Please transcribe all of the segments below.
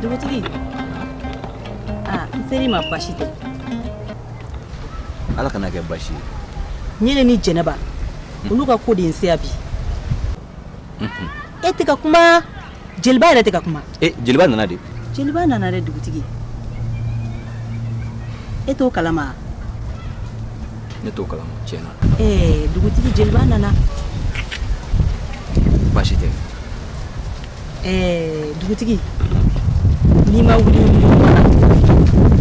dugutigi aa n ser'i ma basi tɛ ala kana kɛ basi ye ɲele ni jɛnɛba olu ka ko de ye n se yan bi e tɛ ka kuma jeliba yɛrɛ tɛ ka kuma ee jeliba nana de jeliba nana dɛ dugutigi e t'o kalama ne t'o kalama tiɲɛ na ee dugutigi jeliba nana baasi tɛ ee dugutigi n'i ma wuli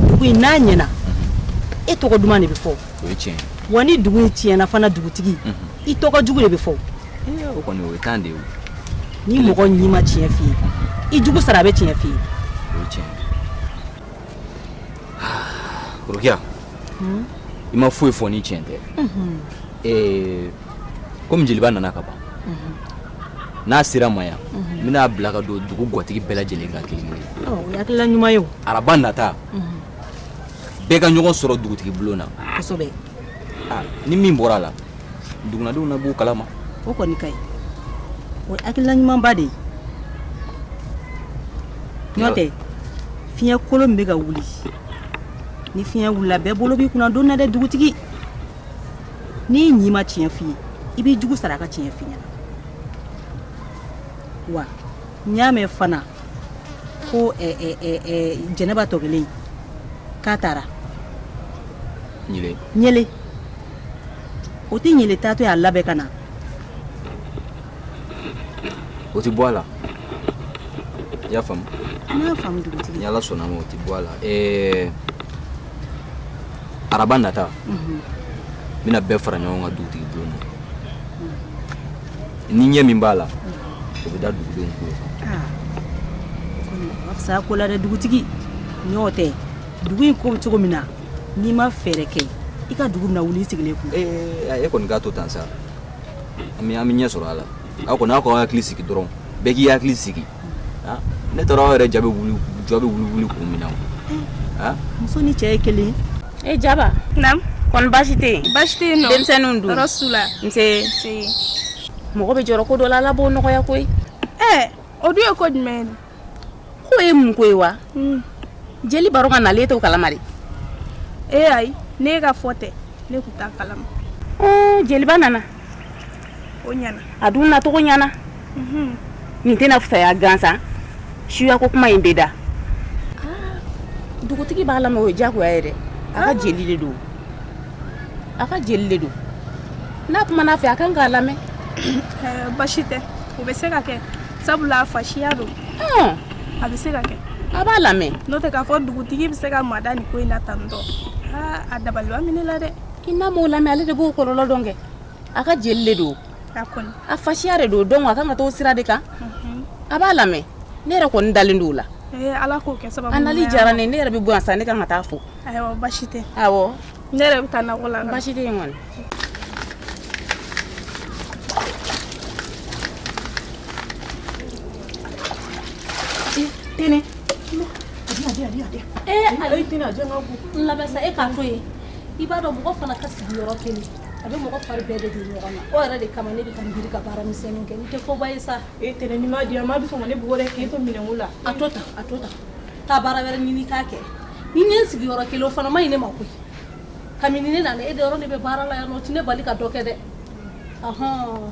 dugu in n'a ɲɛna e tɔgɔ duman de bɛ fɔ o ye tiɲɛ wa ni dugu in tiɲɛna fana dugutigi i tɔgɔ jugu de bɛ fɔ o kɔni o ye tan de ye ni mɔgɔ ɲi ma tiɲɛ f'i ye i jugu sara a bɛ tiɲɛ f'i ye o ye tiɲɛ rokiya hmm? i ma foyi fɔ ni tiɲɛ tɛ mhm. komi jeliba nana ka ban mhm. n'a sera n ma yan mhm. n bɛn'a bila ka don dugu gwatigi bɛɛ lajɛlen kan kelen kelen oh, o ye hakilila ɲuman ye o araba nata bɛɛ ka ɲɔgɔn sɔrɔ dugutigi bulon na kosɛbɛ ah, ni min bɔra a la dugunadenw na b'o kalama o kɔni ka ɲi o ye hakilina ɲumanba de ye n'o tɛ fiɲɛ kolon min bɛ ka wuli ni fiɲɛ wulila bɛɛ bolo b'i kunna doni na dɛ dugutigi n'i ɲi ma tiɲɛ f'i ye i b'i jugu sara a ka tiɲɛ f'i ɲɛna wa n y'a mɛn fana ko jɛnɛba tɔ kelen k'a taara o tɛ ɲele taatɔ y'a labɛn ka na o tɛ bɔ a la i y'a faamu n'ala sɔnn'a ma o tɛ bɔ a la araba nata n bɛna bɛɛ fara ɲɔgɔn kan dugutigi bulon na ni ɲɛ min b'a la o bɛ da dugudenw tulo kan sa ko la dɛ dugutigi n'o tɛ dugu in ko cogo min na n'i ma fɛɛrɛ kɛ i ka dugu bɛna wuli i sigilen kun e kɔni k'a to tan sa an bɛ ɲɛ sɔrɔ a la aw kɔni aw k'aw hakili sigi dɔrɔn bɛɛ k'i hakili sigi ne taara aw yɛrɛ jaabi jɔ bɛ wuli wuli kun min na muso ni cɛ ye kelen ye jaba kɔni baasi tɛ yen baasi tɛ yen nɔ denmisɛnninw dun tɔɔrɔ t'u la nse mɔgɔ bɛ jɔrɔ ko dɔ la ala b'o nɔgɔya koyi ɛɛ o dun ye ko jumɛn ye k'o ye mun ko ye wa hmm. jeliba dun ka nali e t'o kalama de ee ayi ne ka fɔ tɛ ne tun t'a kalama jeliba nana a dun nacogo ɲana nin tɛna fisaya gansan suyako kuma in bɛ da dugutigi b'a lamɛn o ye jagoya ye dɛ a ka jeli de don a ka jeli de don n'a kumana a fɛ a kan k'a lamɛn basi tɛ o bɛ se ka kɛ sabula fasiya don a bɛ se ka kɛ a b'a lamɛn n'o tɛ k'a fɔ dugutigi bɛ se ka mada nin ko in na tantɔ a dabaliban minɛ la dɛ i n'a m'o lamɛn ale de b'o kɔlɔlɔ dɔn kɛ a ka jeli de don a fasiya de don donc a kan ka t'o sira de kan a b'a lamɛn ne yɛrɛ kɔni dalen don o la a nali diyara ne ne yɛrɛ bɛ bɔ yan sa ne kan ka taa fo basi tɛ ne yɛrɛ bɛ taa nakɔ la basi tɛ kɔni Tɛnɛ. Ee, ale tɛna jɔn ka ko labɛn sa e k'a to yen. i b'a dɔn mɔgɔ fana ka sigi yɔrɔ kelen a bɛ mɔgɔ fari bɛɛ de don ɲɔgɔn na o yɛrɛ de kama ne bɛ ka n biri ka baara misɛnninw kɛ n tɛ koba ye sa e tɛnɛ ni ma di yan maa bɛ sɔn ka ne bugɔ dɛ k'e to minɛnko la a to tan a to tan taa baara wɛrɛ ɲini k'a kɛ ni n ye n sigi yɔrɔ kelen o fana ma ɲi ne ma koyi kabini ne nana e de yɔrɔ ne bɛ baara la yan non o tɛ ne bali ka dɔ kɛ dɛ ahɔn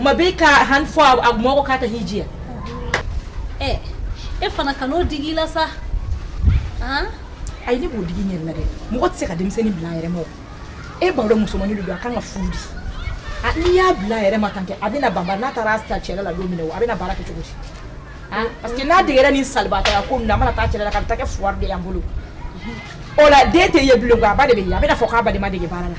ma bɛ ka han fɔ a mɔgɔ k'a ka hji diya ɛ e fana kan'o digi i la sa ayi ne b'o digi n yɛrɛ la dɛ mɔgɔ tɛ se ka denmisɛnnin bila a yɛrɛ ma e b'a dɔn musomanmani don a kan ka furu di n'i y'a bila a yɛrɛ ma tan kɛ a bɛna ban n'a taara ta cɛla la don min na a bɛna baara kɛ cogo di parce que n'a degera nin salibatɔya ko na mana taa cɛla la ka taa kɛ fuwari de y'an bolo o la den tɛ ye bilen a ba de bɛ ye a bɛna fɔ k'a ba de m'a dege baara la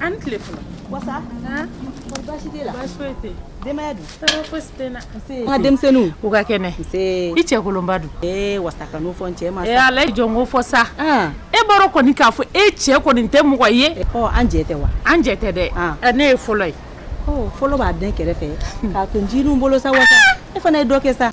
An tile fɔlɔ denmisɛnninw u ka kɛnɛ i cɛ kolonba dun wasa kan'o fɔ ala jɔn ko fɔ sa e bɔra kɔni k'a fɔ e cɛ kɔni tɛ mɔgɔ ye an jɛ tɛ wa an jɛ tɛ dɛ ne ye fɔlɔ ye fɔlɔ b'a den kɛrɛfɛ k'a to jinɛw bolo sa wasa e fana ye dɔ kɛ sa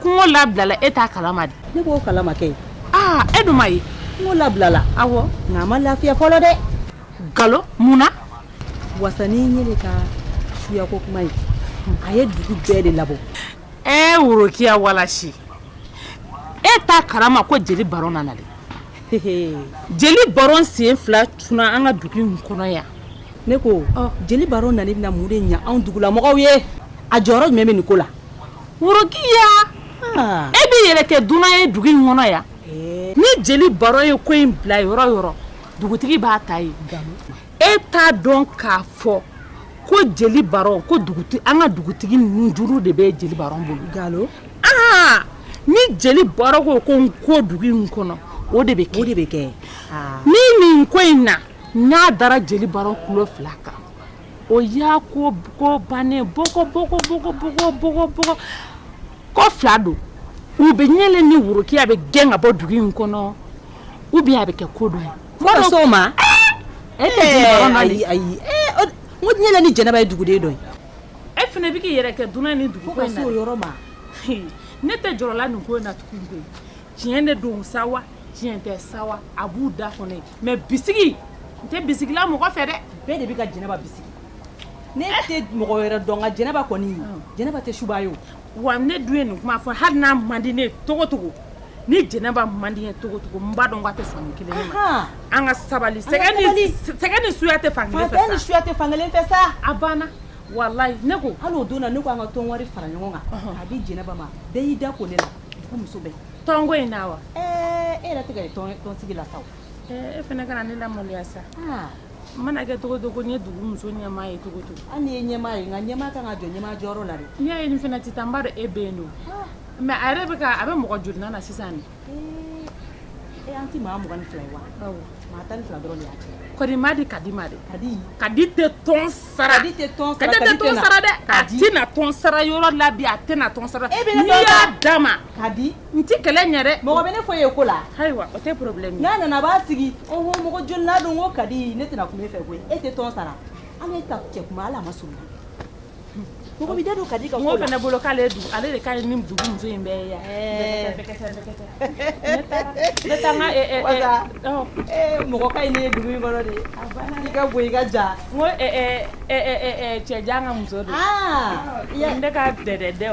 Kungo labilala e t'a kalama de ne b'o kalama kɛ aa e dun m'a ye kungo labilala awɔ nka a ma lafiya fɔlɔ dɛ nkalon mun na wasa nin ye de ka suyako kuma ye a ye dugu bɛɛ de labɔ e worokiya walasi e t'a kalama ko jeli baro nana de jeli baro sen fila tuna an ka dugu in kɔnɔ yan ne ko jeli baro nani bɛna mun de ɲɛ anw dugulamɔgɔw ye a jɔyɔrɔ jumɛn bɛ nin ko la Worokiya e b'i yɛrɛ kɛ dunan ye dugu in kɔnɔ yan ni jeli baro ye ko in bila yɔrɔ yɔrɔ dugutigi b'a ta yen e t'a dɔn k'a fɔ ko jeli baro ko an ka dugutigi nunjuru de bɛ jeli baro bolo aa ni jeli baro ko ko n ko dugu in kɔnɔ o de bɛ kɛ ni nin ko in na n'a dara jeli baro kulo fila kan O y'a ko bannen bon ko fila don ou bien Ɲɛlen ni Worokiya bɛ gɛn ka bɔ dugu in kɔnɔ ou bien a bɛ kɛ ko dɔ ye s'o ma e ayi Ɲɛlen ni jɛnɛba ye duguden dɔ ye e fana b'i yɛrɛ kɛ dunan ni dugu ko in na fo ka s'o yɔrɔ ma ne tɛ jɔrɔla nin ko in na tugun tiɲɛ de don sa wa tiɲɛ tɛ sa a b'u da kɔnɔ mais bisigi n tɛ bisigila mɔgɔ fɛ dɛ bɛɛ de bɛ ka jɛnɛba bisigi ne tɛ mɔgɔ wɛrɛ dɔn nka jɛnɛba kɔni jɛnɛba tɛ suba ye o wa ne dun ye nin kuma fɔ hali n'a man di ne ye cogocogo ni jɛnɛba man di n ye cogocogo n b'a dɔn k'a tɛ sɔn nin kelen ma an ka sabali sɛgɛn ni suya tɛ fan ni suya tɛ fan kelen fɛ sa a banna walayi ne ko hali o don na ne ko an ka tɔn wari fara ɲɔgɔn kan a di jɛnɛba ma bɛɛ y'i da ko ne la muso bɛɛ tɔnko in na wa e yɛrɛ t'an ka tɔnsigi la sa e fana kana ne lamaloya sa n mana kɛ cogocogo ne ye dugu muso ɲɛmaa ye cogocogo hali n'i ye ɲɛmaa ye nka ɲɛmaa kan ka jɔ ɲɛmaa jɔyɔrɔ la n'i y'a ye nin fana tɛ taa n b'a dɔn e bɛ yen don mais a yɛrɛ bɛ a bɛ mɔgɔ jolinan na sisan de e an tɛ maa mugan ni fila ye wa Di Kadi ma dɛ Kadi tɛ tɔn sara Kadi tɛ tɔn sara dɛ a tɛna tɔn sara yɔrɔ la bi a tɛna tɔn sara n'i y'a d'a ma Kadi n tɛ kɛlɛ ɲɛ dɛ mɔgɔ bɛ ne fɔ ye ko la ayiwa o tɛ problème n'a nana a b'a sigi o mɔgɔ jolinan don ko Kadi ne tɛna kuma e fɛ koyi e tɛ tɔn sara ala y'e ta cɛ kuma ala ma so Mɔgɔ bɛ da don Kadi ka mɔgɔ fana ne bolo k'ale don ale de ka ɲi ni dugu muso in bɛɛ ye yan ne t'a dɔn ko mɔgɔ ka ɲi ne ye dugu in kɔnɔ dɛ i ka bon i ka jan ko cɛ jan ka muso don yan ne ka dɛdɛdɛ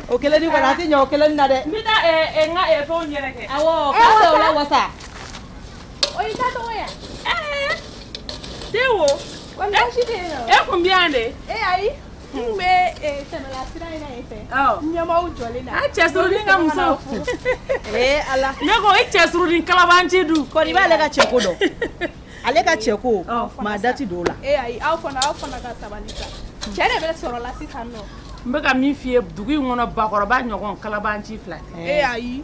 o kelen ni a tɛ ɲɛ o kelen na dɛ n bɛ n ka fɛn yɛrɛ kɛ awɔ ka se o la wasa o i ka tɔgɔ yan den wo e kun bɛ yan de e ayi n bɛ tɛmɛla sira in na yen fɛ ɲɛmaaw jɔlen na a cɛ surunni ka muso ee ala ne ko e cɛ surunni kalabanci dun kɔni b'ale ka cɛ ko dɔn ale ka cɛ ko maa dati don o la e ayi aw fana aw fana ka sabali sa cɛ de bɛ sɔrɔ la sisan nɔ n bɛ ka min f'i ye dugu in kɔnɔ bakɔrɔba ɲɔgɔn kalabanci fila tɛ ee ayi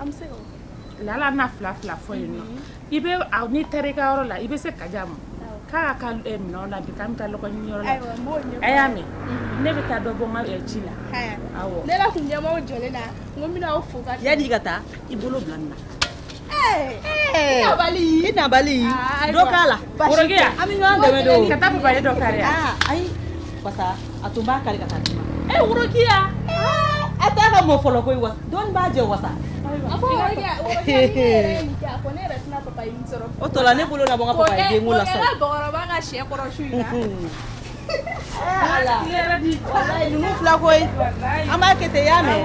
an bɛ se ka o kɛ la la na fila fila fɔ yen nɔ i bɛ n'i taara i ka yɔrɔ la i bɛ se ka di a ma k'a ka minɛn la bi an bɛ taa lɔgɔ ɲini yɔrɔ la a y'a mɛn ne bɛ taa dɔ bɔ n ka ci la ne la tun ɲɛmɔgɔ jɔlen na n ko n bɛna aw fo ka yanni i ka taa i bolo bila na nabali i nabali dɔ k'a la an bɛ ɲɔgɔn dɛmɛ de ka taa papaye dɔ kari ayi a tun b'a kari ka taa e worokiya a t'a ka mɔ fɔlɔ ko wa dɔn b'a jɛ wa o tora ne bolo la fila ko an b'a kɛ ya mɛn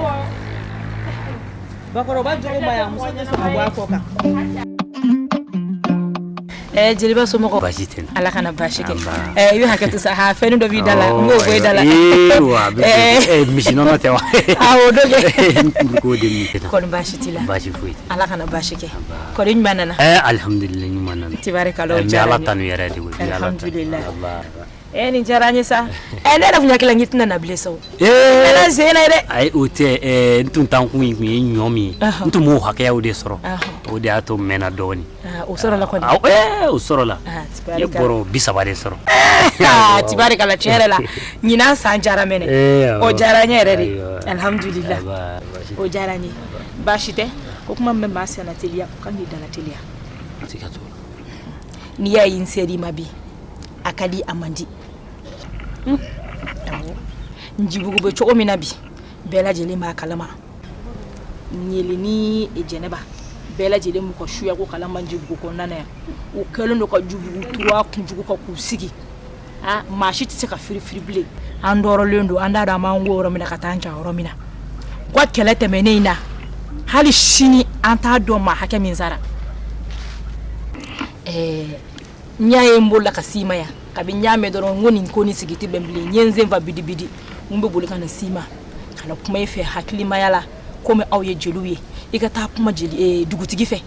bakɔrɔba jɔn muso kɔ kan Ɛɛ jeliba somɔgɔw baasi tɛ Ala kana baasi kɛ ɛɛ i bɛ hakɛto sa haa fɛnnin dɔ b'i da la n b'o bɔ i da la ee wa a bɛ ɛɛ misinɔnɔ tɛ wa awɔ o don dɛ kɔri baasi t'i la baasi foyi tɛ Ala kana baasi kɛ nba kɔri i ɲuman nana ɛɛ alihamudulila ɲuman nana tibarikala o diyara n ye n bɛ Ala tanu yɛrɛ de koyi n bɛ Ala tanu alhamdulilahi alaa Eh, nin diyara n ye sa eh, ne yɛrɛ tun hakili la n k'i tɛna na bilen sa o kɛra sen na ye dɛ ayi o tɛ eh, n tun taakun in tun ye ɲɔ min ye n tun b'o hakɛyaw de sɔrɔ o de y'a to n mɛnna dɔɔnin ah, o sɔrɔla kɔni ah, eh, o sɔrɔla ah, n ye bɔrɔ bi saba de sɔrɔ tibarikala tiɲɛ yɛrɛ la ɲinan san diyara mɛnɛ o diyara n ye yɛrɛ de alihamudulila o diyara n ye baasi tɛ ko kuma min bɛ maa senna teliya o kan k'i dala teliya n'i y'a ye n ser'i ma bi a ka di a man di njibugu bɛ cogo min na bi bɛɛ lajɛlen b'a kalama ɲeli ni jɛnɛba bɛɛ lajɛlen b'u ka suya ko kalama njibugu kɔnɔna na yan u kɛlen don ka njibugu turu a kunjugu kan k'u sigi a maa si tɛ se ka firifiri bilen an dɔrɔlen don an t'a dɔn an b'an ko yɔrɔ min na ka taa an ja yɔrɔ min na u ka kɛlɛ tɛmɛnen in na hali sini an t'a dɔn maa hakɛ min sara ɛɛ n'i y'a ye n bolila ka s'i ma yan kabi n y'a mɛn dɔrɔn n ko nin ko ni sigi tɛ bɛn bilen n ye n sen fa bidibidi n bɛ boli ka na s'i ma ka na kuma i fɛ hakilimaya la komi aw ye jeliw ye i ka taa kuma jeli eh, dugutigi fɛ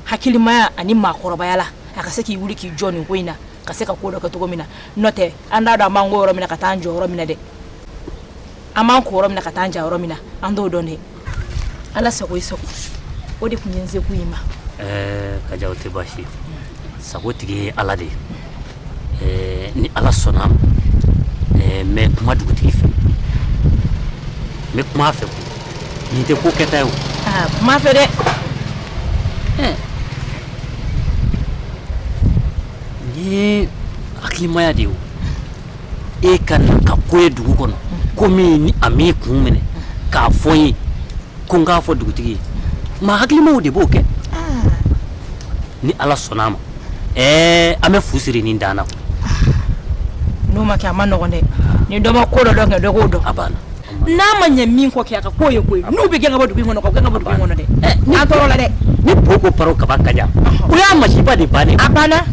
hakilimaya ani maakɔrɔbaya la a ka se k'i wuli k'i jɔ nin ko in na ka se ka ko dɔ kɛ cogo min na n'o tɛ an t'a dɔn an b'an ko yɔrɔ min na ka taa an ja yɔrɔ min na dɛ an b'an ko yɔrɔ min na ka taa an ja yɔrɔ min na an t'o dɔn dɛ ala sago i sago o de tun ye n sekun y'i ma eh, kaja o tɛ baasi ye sago tigi ye ala de ye eh, ni ala sɔnna a ma eh, n bɛ kuma dugutigi fɛ n bɛ kuma a fɛ nin tɛ ko kɛta ye o ah, kuma a fɛ dɛ nin ye hakilimaya de ye o e ka na ka ko ye dugu kɔnɔ komi a m'i kun minɛ k'a fɔ n ye ko n k'a fɔ dugutigi ye maa hakilimaw de b'o kɛ ni ala sɔnna a ma ɛɛ an bɛ fu siri nin dan na n'o ma kɛ a ma nɔgɔn dɛ ni dɔ ma ko dɔ dɔn kɛ dɔ k'o dɔn a banna n'a ma ɲɛ min kɔ kɛ a ka ko ye koyi n'u bɛ gɛn ka bɔ dugu in kɔnɔ u k'a gɛn ka bɔ dugu in kɔnɔ dɛ an tɔɔrɔla dɛ ni po ko paro kaba ka jan o y'a masiba de bannen a banna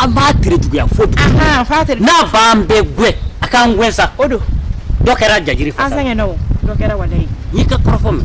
an b'a tere juguya fo bi n'a b'an bɛɛ gɛn a k'an gɛn sa o don dɔ kɛra jajiri an fasa sɛgɛnna o dɔ kɛra walayi n'i ka kɔrɔfɔ mɛn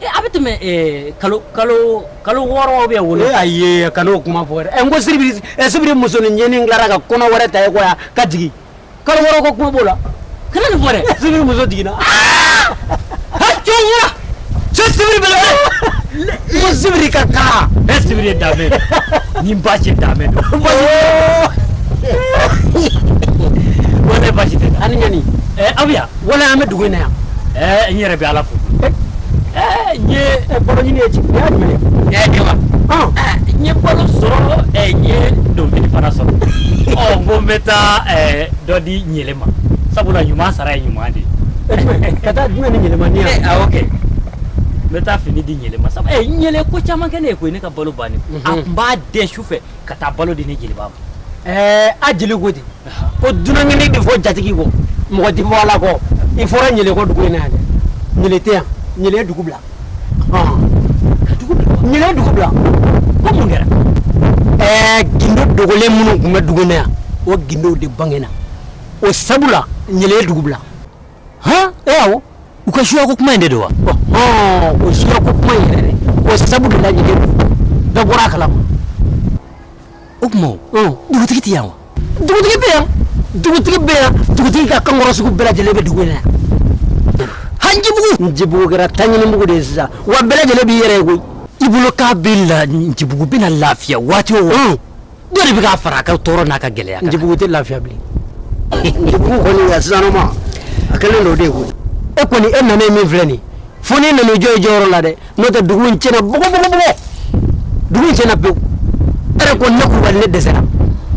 Eh, a bɛ tɛmɛ eh, kalo kalo kalo wɔɔrɔ bɛ wolo eh, ayi kan'o kuma fɔ dɛ n ko sibiri sibiri musonin ɲɛni tilara ka kɔnɔ wɛrɛ ta ko ka jigin kalo wɔɔrɔ ko kuma b'o la kana nin fɔ dɛ sibiri muso jiginna ah! cɛwura cɛ sibiri bɛ la ko sibiri ka taa ɛ sibiri ye danbe ni ba cɛ danbe don ko ne baasi tɛ ani ɲɛni aw bɛ yan wala an bɛ dugu in na yan ɛɛ n yɛrɛ bɛ ala fo ɛɛ n ye balo ɲini ye jigin y'a jumɛn ye ɛɛ jama n ye balo sɔrɔ ɛɛ n ye donfini fana sɔrɔ ɔ n ko n bɛ taa ɛɛ dɔ di ɲele ma sabula ɲuman sara ye ɲuman de ye ka taa jumɛn di ɲele ma nin yan awɔ kɛ n bɛ taa fini di ɲele ma sabu ɛɛ ɲele ko caman kɛ ne ye koyi ne ka balo bannen a tun b'a dɛn su fɛ ka taa balo di ne jeliba ma ɛɛ a jeli ko ten ko dunankɛnin de fɔ jatigi kɔ mɔgɔ tɛ fɔ ala kɔ i fɔra ɲele kɔ dugu in na yan dɛ ɲele tɛ yan ɲele ye dugu bila ka dugu bila ɲele ye dugu bila ko mun kɛra ɛɛ gindo dogolen minnu tun bɛ dugu in na yan o gindow de bangena o sabu la ɲele ye dugu bila ha awɔ u ka suya ko kuma in de don wa o suya ko kuma in yɛrɛ dɛ o sabu de la ɲele dɔ bɔra a kalama o tuma o dugutigi tɛ yan dugutigi bɛ yan dugutigi bɛ yan dugutigi ka kankɔrɔsigi bɛɛ lajɛlen bɛ dugu in na yan Njibugu Njibugu kɛra taɲinibugu de ye sisan wa bɛɛ lajɛlen b'i yɛrɛ ko i bolo k'a bɛ la Njibugu bɛna lafiya waati o dɔ de bɛ k'a fara a ka tɔɔrɔ n'a ka gɛlɛya kan Njibugu tɛ lafiya bilen Njibugu kɔni a sisanɔma a kɛlen don o de ye koyi e kɔni e nana ye min filɛ nin ye fo n'e nana i jɔ i jɔyɔrɔ la dɛ n'o tɛ dugu in tiɲɛna bɔgɔbɔgɔbɔgɔ dugu in tiɲɛna pewu e yɛrɛ ko ne kulubali ne dɛsɛra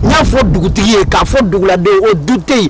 n y'a fɔ dugutigi ye k'a fɔ duguladen o du tɛ yen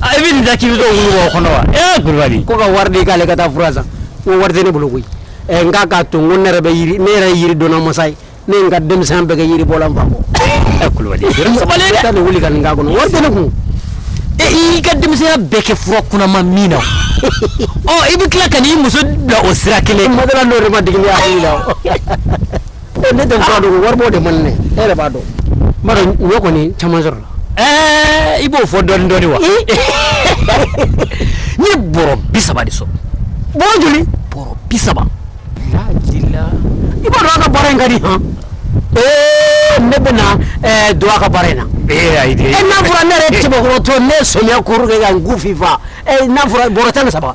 i bɛ nin ta k'i bɛ t'o wuli o kɔnɔ wa ee kulubali ko ka wari di k'ale ka taa fura san ko wari tɛ ne bolo koyi ɛ n k'a k'a to n ko ne yɛrɛ bɛ yiri ne yɛrɛ ye yiri dɔnna masa ye ne ye n ka denmisɛnya bɛɛ kɛ yiri bɔ la n fa kɔ ɛ kulubali yɛrɛ sabali dɛ taa nin wuli ka nin k'a kɔnɔ wari tɛ ne kun e y'i ka denmisɛnya bɛɛ kɛ fura kunaman min na ɔ i bɛ tila ka n'i muso bila o sira kelen madala n'o de ma digi ne hakili la ne tɛ fura dɔn wari b'o de man ne e yɛrɛ b'a dɔn n b'a dɔn ɲɔ kɔni caman sɔrɔla ɛɛ i b'o fɔ dɔɔni dɔɔni wa n ye bɔrɔ bi saba de sɔrɔ bɔrɔ joli bɔrɔ bi saba lajila i b'a dɔn a ka baara in ka di han ee ne bɛ na ɛɛ don a ka baara in na ee ayi de e n'a fɔra ne yɛrɛ cɛbakɔrɔtɔ ne ye sɔmiya kuru kɛ ka n ku fifa ee n'a fɔra bɔrɔ tan ni saba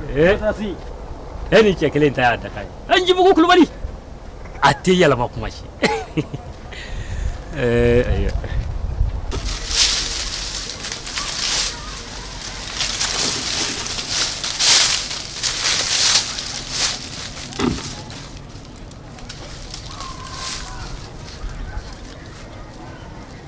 Ee e ni cɛ kelen ta y'a dakan ye ncibugu kulubali a tɛ yɛlɛma kuma si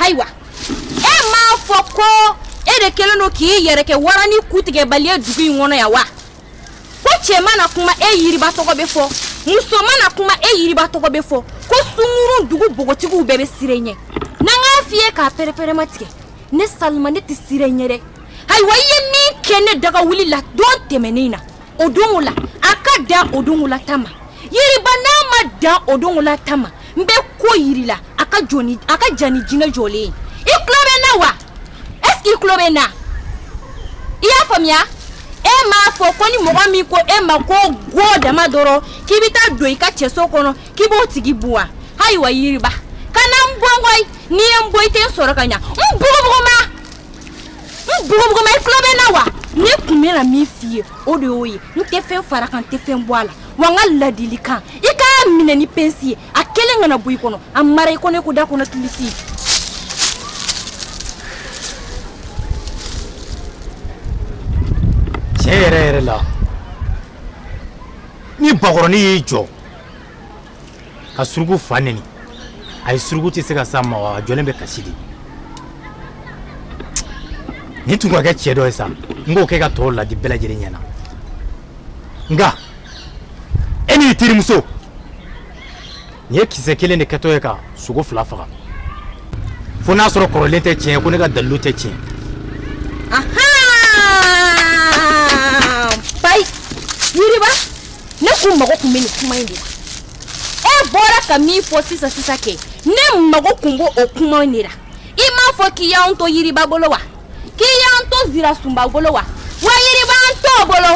ayiwa e m'a fɔ ko e de kelen don k'i yɛrɛ kɛ waranin kutigɛbali ye dugu in kɔnɔ yan wa ko cɛ mana kuma e yiriba tɔgɔ bɛ fɔ muso mana kuma e yiriba tɔgɔ bɛ fɔ ko sungurun dugu npogotigiw bɛɛ bɛ siran e ɲɛ n'an k'a f'i ye k'a pɛrɛpɛrɛmatigɛ ne salima ne tɛ siran e ɲɛ dɛ ayiwa i ye min kɛ ne daga wuli la don tɛmɛnen na o don o la a ka dan o don o la ta ma yiriba n'a ma dan o don o la ta ma n bɛ ko yir'i la a ka jan ni jinɛ jɔlen ye i tulo bɛ n na wa est-ce que i tulo bɛ n na i y'a faamuya e m'a fɔ ko ni mɔgɔ min ko e ma ko go dama dɔrɔn k'i bɛ taa don i ka cɛso kɔnɔ k'i b'o tigi bon wa ayiwa yiriba kana n bon koyi n'i ye n bon i tɛ n sɔrɔ ka ɲa n bugubuguma n bugubuguma i tulo bɛ n na wa ne kun bɛna min f'i ye o de y'o ye n tɛ fɛn far'a kan n tɛ fɛn bɔ a la wa n ka ladilikan i k'a minɛ ni pɛnsi ye a kelen kana bɔ i kɔnɔ a mara i kɔnɔ i ko dakɔnɔ kilisi tiɲɛ yɛrɛ yɛrɛ la ni bakɔrɔnin y'i jɔ ka suruku fa neni a ye suruku tɛ se ka s'a ma wa a jɔlen bɛ kasi de nin tun ka kɛ cɛ dɔ ye sa n k'o kɛ ka tɔw ladi bɛɛ lajɛlen ɲɛna nka e n'i terimuso nin ye kisɛ kelen de kɛtɔ ye ka sogo fila faga fo n'a sɔrɔ kɔrɔlen tɛ tiɲɛ ko ne ka dalilu tɛ tiɲɛ ne kun mago kun bɛ nin kuma in de la e bɔra ka min fɔ sisan sisan kɛ ne mago kun b'o kuma in de la i m'a fɔ k'i y'an to yiriba bolo wa k'i y'an to zirasunba bolo wa wa yiriba an t'o bolo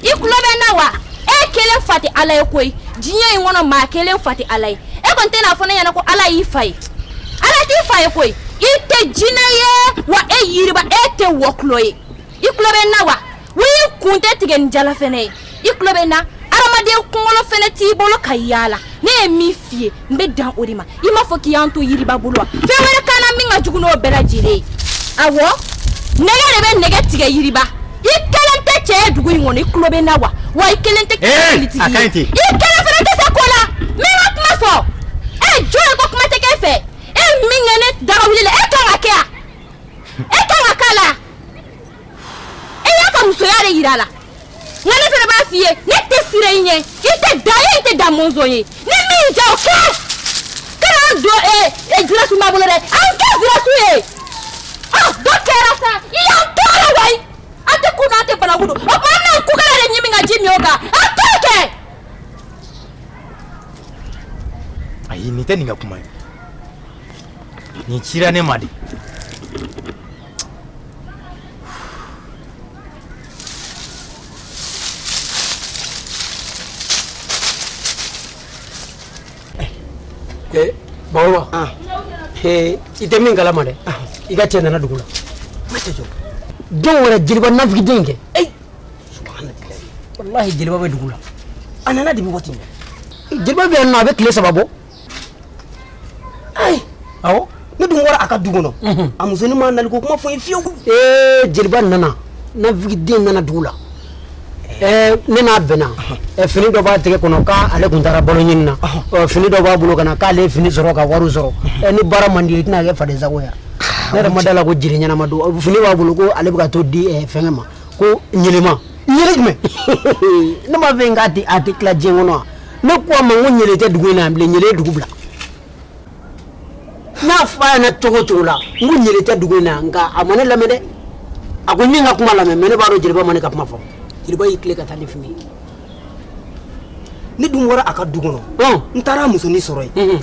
i tulo bɛ n na wa e kelen fa tɛ ala ye koyi diɲɛ in kɔnɔ maa kelen fa tɛ ala ye e kɔni tɛn'a fɔ ne ɲɛna ko ala y'i fa ye ala t'i fa ye koyi i tɛ jinɛ ye wa e yiriba e tɛ wɔkulɔ ye i tulo bɛ n na wa Wa i kun tɛ tigɛ ni jala fɛnɛ ye i tulo bɛ n na adamaden kunkolo fɛnɛ t'i bolo ka yaala ne ye min f'i ye n bɛ dan o de ma i m'a fɔ k'i y'an to yiriba bolo wa fɛn wɛrɛ ka na min ka jugu n'o bɛɛ lajɛlen ye a nɛgɛ de bɛ nɛgɛ tigɛ yiriba i kelen tɛ cɛ ye dugu in kɔnɔ i tulo bɛ n na wa wa i kelen tɛ kɛlɛtigi ye i kelen fɛnɛ tɛ se ko la n bɛ n ka kuma fɔ e jɔn ye ko kuma tɛ kɛ fɛ e min kɛ ne daga wuli la e kan ka kɛ yan e kan ka k'a la. e y'a ka musoya de yira a la nka ne fɛnɛ b'a f'i ye ne tɛ sira i ɲɛ i tɛ da ye i tɛ da mɔnzɔn ye ni min ja o kɛ kana an don zirasunba bolo dɛ an kɛ zirasun ye ɔ dɔ kɛra sa i y'an tɔɔrɔ wayi an tɛ ku n'an tɛ banaku dun o tuma an na kukala de ɲimi ka ji min o kan an t'o kɛ. ayi nin tɛ nin ka kuma ye nin cira ne ma de Eh, bakɔrɔba ah. eh, i tɛ min kalama dɛ ah. i ka cɛ nana dugu la jɔn wɛrɛ jeliba nafigiden kɛ walahi jeliba bɛ dugu la a nana depuis waati min jeliba bɛ yan nɔ a bɛ tile saba bɔ ayi awɔ ne dun bɔra a ka du kɔnɔ mhm. a musonin ma nali ko kuma fɔ n ye fiyewu ee jeliba nana nafigiden nana dugu la eh. eh, ne n'a bɛnna eh, fini dɔ b'a tɛgɛ kɔnɔ k'ale kun taara balo ɲini na fini dɔ b'a bolo ka na k'ale fini sɔrɔ ka wari sɔrɔ mhm. ni baara man di i tɛna kɛ faden sago ye ah, ne yɛrɛ ma da la ko jiri ɲɛnama don fini b'a bolo ko ale bɛ ka t'o di fɛngɛ ma ko ɲele ma ɲele jumɛn ne m'a fɔ k'a tɛ a tɛ tila diɲɛ kɔnɔ wa ne ko a ma n ko ɲele tɛ dugu in na bilen ɲele ye dugu bila n y'a fɔ a ɲɛna cogo o cogo la n ko ɲele tɛ dugu in na nka a ma ne lamɛn dɛ a ko min ka kuma lamɛn mɛ ne b'a dɔn jeliba ma ne ka kuma fɔ jeliba y'i tila ka taa ni fini ye ne dun bɔra a ka du kɔnɔ n taara a musonin sɔrɔ yen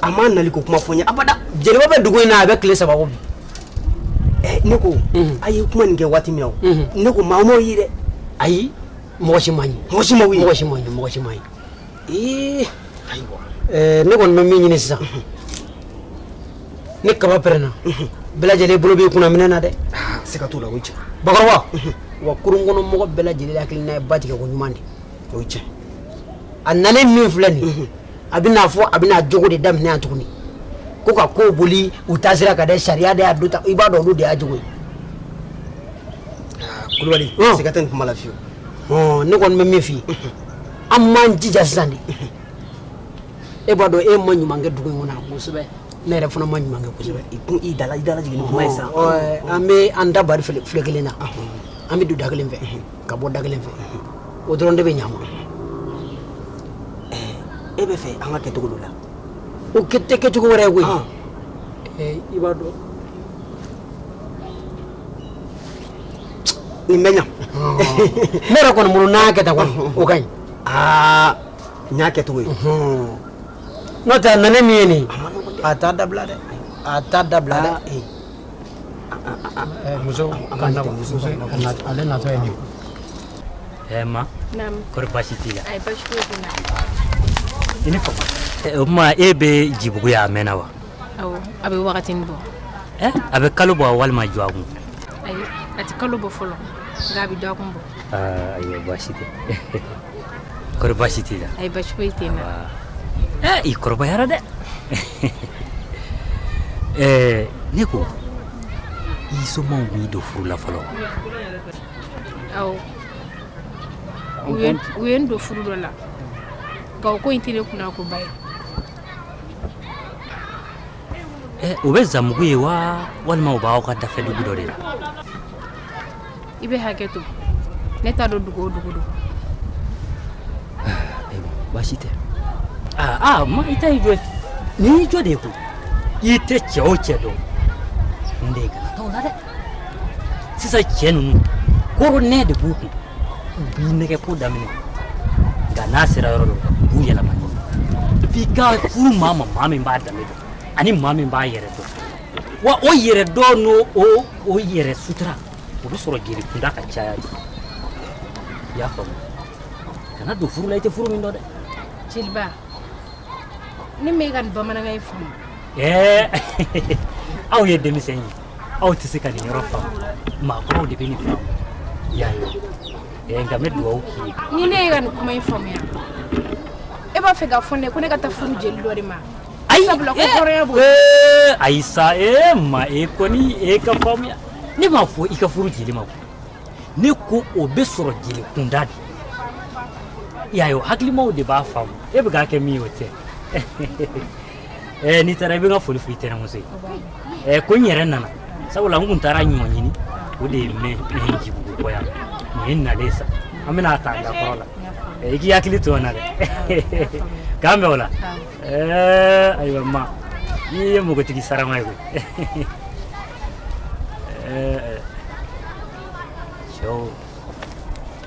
a ma nali ko kuma fɔ n ye abada jeliba bɛ dugu in na a bɛ tile saba bɔ bi ne ko a ye kuma nin kɛ waati min na ne ko maa m'o ye dɛ ayi mɔgɔ si m'a ye mɔgɔ si ma wuli mɔgɔ si m'a ye mɔgɔ si m'a ye ee ayiwa ɛɛ ne kɔni bɛ min ɲini sisan ni kaba pɛrɛnna bɛɛ lajɛlen bolo b'i kunna minɛ na dɛ ah, siga t'o la o ye tiɲɛ bakɔrɔba wa kurun kɔnɔ mɔgɔ bɛɛ lajɛlen hakilina ye ba tigɛ ko ɲuman de o ye tiɲɛ a nalen min filɛ nin ye a bɛna fɔ a bɛna jogo de daminɛ yan tuguni ko ka ko boli u taasira kan dɛ sariya de y'a do ta i b'a dɔn olu de y'a jogo ye kulubali siga tɛ nin kuma la fiyewu ne kɔni bɛ min f'i ye an m'an jija sisan de e b'a dɔn e ma ɲuman kɛ dugu in kɔnɔ kosɛbɛ ne yɛrɛ fana ma ɲuman kɛ kosɛbɛ i kun i dala i dala jigin ni kuma ye sisan an bɛ an da bari filen kelen na an bɛ don da kelen fɛ ka bɔ da kelen fɛ o dɔrɔn de bɛ ɲa ma e b'a fɛ an k'a kɛ cogo dɔ la o kɛ tɛ kɛ cogo wɛrɛ ye koyi i b'a dɔn nin bɛ ɲa ne yɛrɛ kɔni bolo n'an y'a kɛ tan kɔni o ka ɲi aa n y'a kɛ cogo ye n'o tɛ a nana ni min ye nin a t'a dabila dɛ a t'a dabila dɛ muso ale natɔ ye nin ɛɛ ma kɔri baasi t'i la i ni fama o tuma e bɛ jibugu yen a mɛnna wa A bɛ wagatinin bɔ a bɛ kalo bɔ wa walima dɔgɔkun ayi a tɛ kalo bɔ fɔlɔ nka a bɛ dɔgɔkun bɔ baasi tɛ baasi t'i la ayi baasi foyi tɛ i kɔrɔbayara dɛ ɛɛ ne ko i somaw b'i don furu la fɔlɔ awɔ u ye n don furu dɔ la nka o ko in tɛ ne kunna ko ba ye Eh, u bɛ zamugu yen wa walima u b'aw ka dafɛ dugu dɔ de la i bɛ hakɛ to ne t'a dɔn dugu o dugu don baasi tɛ aa aa, ma i ta y'i jo ye. nin y'i jo de ye koyi i tɛ cɛ o cɛ dɔn n den i kana taa o la dɛ sisan cɛ ninnu koro ne de b'u kun u b'i nɛgɛn ko daminɛ nka n'a sera yɔrɔ dɔ u b'u yɛlɛma f'i ka furu maa ma maa min b'a danbe dɔn ani maa min b'a yɛrɛ dɔn wa o yɛrɛ dɔn n'o o o yɛrɛ sutura o bɛ sɔrɔ jeli kunda ka caya de i y'a faamu kana don furu la i tɛ furu min dɔn dɛ jeliba ne m'e ka nin bamanankan in faamu ɛɛ aw ye denmisɛn ye aw tɛ se ka nin yɔrɔ faamu maakɔrɔw de bɛ nin faamu y'a ye ɛɛ nka n bɛ dugawu k'i ye ni ne y'e ka nin kuma in faamuya e b'a fɛ k'a fɔ ne ko ne ka taa furu jeli dɔ de ma ayi sabula ko hɔrɔnya b'o ee ayi sa ee ma e kɔni e ka faamuya ne m'a fɔ i ka furu jeli ma koyi ne ko o bɛ sɔrɔ jeli kunda de y'a ye o hakilimaw de b'a faamu e bɛ k'a kɛ min ye o tɛ ɛɛ n'i taara i bɛ n ka foli f'i tɛnɛmuso ye ɛɛ ko n yɛrɛ nana sabula n kun taara ɲɔ ɲini o de ye mɛ mɛ jibugu kɔ yan nin ye n nalen sa an bɛna ta da kɔrɔ la i k'i hakili to n na dɛ k'an bɛn o la ɛɛ ayiwa ma i ye npogotigi sarama ye koyi ɛɛ cɛw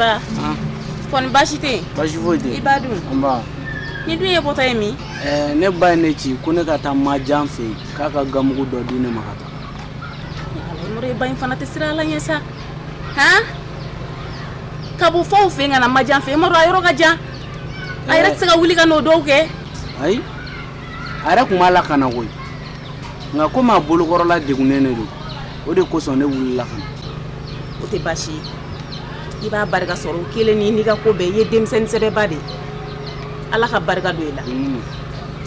ba kɔni baasi tɛ yen baasi foyi tɛ i ba dun nba nin dun y'i bɔtɔ ye min ɛɛ ne ba ye ne ci ko ne ka taa majan fɛ yen k'a ka ganmugu dɔ di ne ma ka taa yɔrɔ i ba in fana tɛ siran ala ɲɛ sa ka bɔ fɔ aw fɛ ka na majan fɛ i m'a dɔn a yɔrɔ ka jan a yɛrɛ tɛ se ka wuli ka n'o dɔw kɛ ayi a yɛrɛ tun b'a la ka na koyi nka komi a bolokɔrɔla degunnen don o de kosɔn ne wulila ka na o tɛ baasi ye i b'a barika sɔrɔ o kelen ni n'i ka ko bɛɛ i ye denmisɛnnin sɛbɛba de ye ala ka barika don i la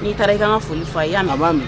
n'i taara i ka n ka foli fɔ a ye i y'a mɛn b'a mɛn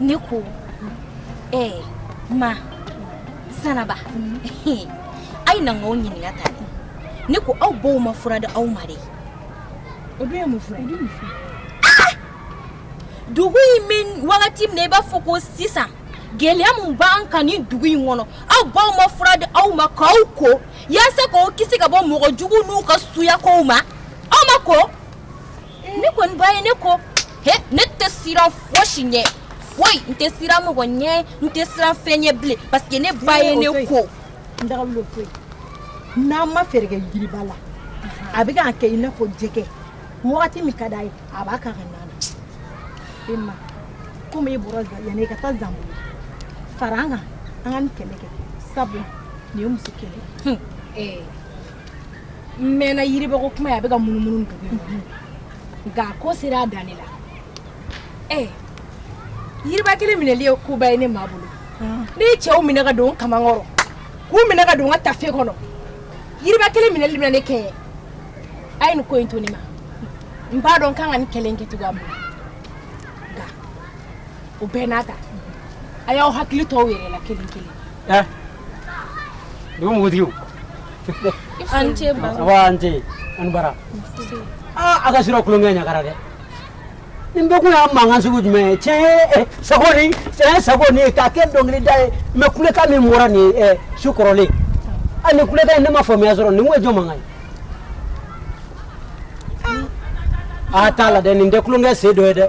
ne ko ee eh, ma sanaba a ye na n k'aw ɲininka tan dɛ ne ko aw baw ma fura di aw ma de o dun ye mun fura ye ah! dugu in bɛ wagati min na i b'a fɔ ko sisan gɛlɛya min b'an kan nin dugu in kɔnɔ aw baw ma fura di aw ma k'aw ko yaasa k'aw kisi ka bɔ mɔgɔ juguw n'u ka suyakow ma aw ma ko ne kɔni ba ye ne ko ne tɛ siran fosi ɲɛ foyi n tɛ siran mɔgɔ ɲɛ n tɛ siran fɛn ɲɛ bilen parce que ne ba ye ne ko n'an ma fɛɛrɛ kɛ yiriba la a bɛ k'an kɛ i n'a fɔ jɛgɛ wagati min ka d'a ye a b'a kan ka nana e ma komi e bɔra yanni e ka taa zanbolo fara an kan an ka nin kɛlɛ kɛ sabu nin ye muso kɛlɛ ye mɛnna yiribako kuma ye a bɛ ka munumunu dugu in kɔnɔ nka a ko sera a dan ne la ɛ yiriba kelen minɛli ye koba ye ne ma bolo ne ye cɛw minɛ ka don n kaman kɔrɔ k'u minɛ ka don n ka taafe kɔnɔ yiriba kelen minɛli bɛna ne kɛɲɛ a ye nin ko in to ne ma n b'a dɔn n kan ka nin kɛlɛ in kɛ cogoya min na nka o bɛɛ n'a ta a y'aw hakili to aw yɛrɛ la kelen kelen Don wotigi an ce an ce an bara aa an ka surɔ tulonkɛ ɲagara dɛ nin bɛɛ kun y'a mankan sugu jumɛn ye tiɲɛ sago ni tiɲɛ sago ni ye k'a kɛ dɔnkili da ye mais kulekan min bɔra nin ye su kɔrɔlen a nin kulekan in ne ma faamuya sɔrɔ nin kun ye jɔn mankan ye a t'a la dɛ nin tɛ tulonkɛ sen dɔ ye dɛ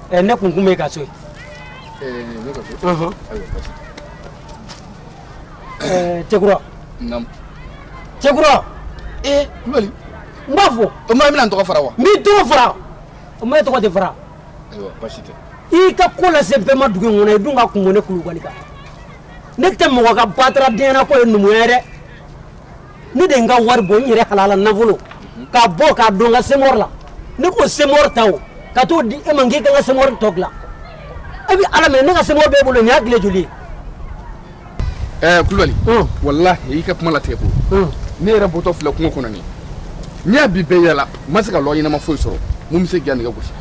ɛ ne kun kun bɛ ka so ye. ɛɛ ne ka so. ayiwa basi. ɛɛ cɛkura. naamu. cɛkura. ee kulubali. n b'a fɔ. o ma i bɛna n tɔgɔ fara wa. n b'i tɔgɔ fara o ma e tɔgɔ de fara. ayiwa basi tɛ. i ka ko lase bɛɛ ma dugu in kɔnɔ i dun ka kun bɔ ne kulubali kan ne tɛ mɔgɔ ka bataradenya ko ye numuya ye dɛ. ne de ye n ka wari bɔ n yɛrɛ halala nafolo k'a bɔ k'a don n ka semɔri la ne k'o semɔri ta o ka t'o di e ma k'i ka n ka semɔri tɔ dilan e bɛ ala minɛ ne ka semɔri b'e bolo nin y'a tile joli ye. ɛɛ eh, kulubali. Hmm. walahi i ka kuma latigɛ ko. Hmm. ne yɛrɛ bɔtɔ filɛ kungo kɔnɔ nin n y'a bi bɛɛ yaala n ma se ka lɔgɔ ɲɛnama foyi sɔrɔ min bɛ se k'i ka nɛgɛ gosi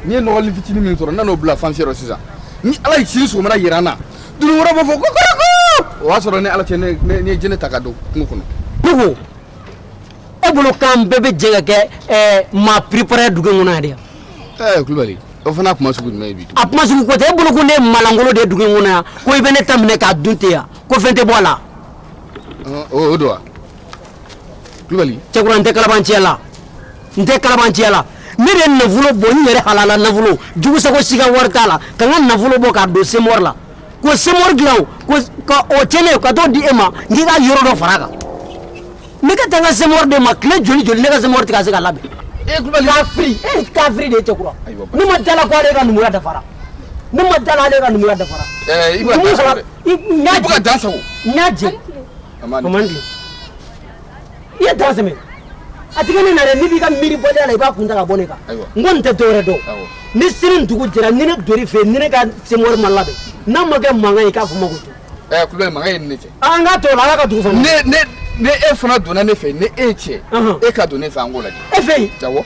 ne ye lɔgɔnin fitinin min sɔrɔ n nan'o bila fansiyɔrɔ sisan ni ala ye sini sɔgɔmada yira an na Dononkɔrɔ b'a fɔ kokoriko o y'a sɔrɔ ni ala cɛ ne ye jele ta ka don kungo kɔnɔ dugu e bolo kan bɛɛ bɛ jɛ ka kɛ maa préparé dugu in kɔnɔ yan de kulubali o fana kuma sugu jumɛn bi a kuma sugu ko tɛ e bolo ko ne maalankolon de ye dugu in kɔnɔ yan ko i bɛ ne ta minɛ k'a dun ten yan ko fɛn tɛ bɔ a la o don wa cɛkura n tɛ kalabanciya la n tɛ kalabanciya la ne de ye nafolo bɔ n yɛrɛ halala nafolo jugusago si ka wari t'a la ka n ka nafolo bɔ k'a don semɔri la k'o semɔri dilan o ka tiɲɛ ne ka t'o di e ma n k'i ka yɔrɔ dɔ fara a kan ne ka taa n ka semɔri de ma tile joli joli ne ka semɔri tɛ ka se ka labɛn kafiri e kafiri de ye cɛkura ne ma da a la ko ale ka numuya dafara ne ma da a la ale ka numuya dafara n y'a jɛ n y'a jɛ Kamani, Kamani dun? I ye daga sɛmɛ a tigɛ ne na dɛ n'i bɛ ka miiri bɔdenya la i b'a kun ta ka bɔ ne kan Ayiwa. n kɔni tɛ dɔwɛrɛ dɔn Awɔ. ni sini dugu jɛra ni ne donn'i fɛ yen ni ne ka semɔri ma labɛn n'a ma kɛ mankan ye k'a fɔ ma ko to ɛ kulubali eh, mankan ye e ni ne cɛ an k'a to o la ala ka dugu fana ne ne ne e fana donna ne fɛ yen ni e ye cɛ Ɔhɔn. e ka don ne fɛ an k'o lajɛ e fɛ yen awɔ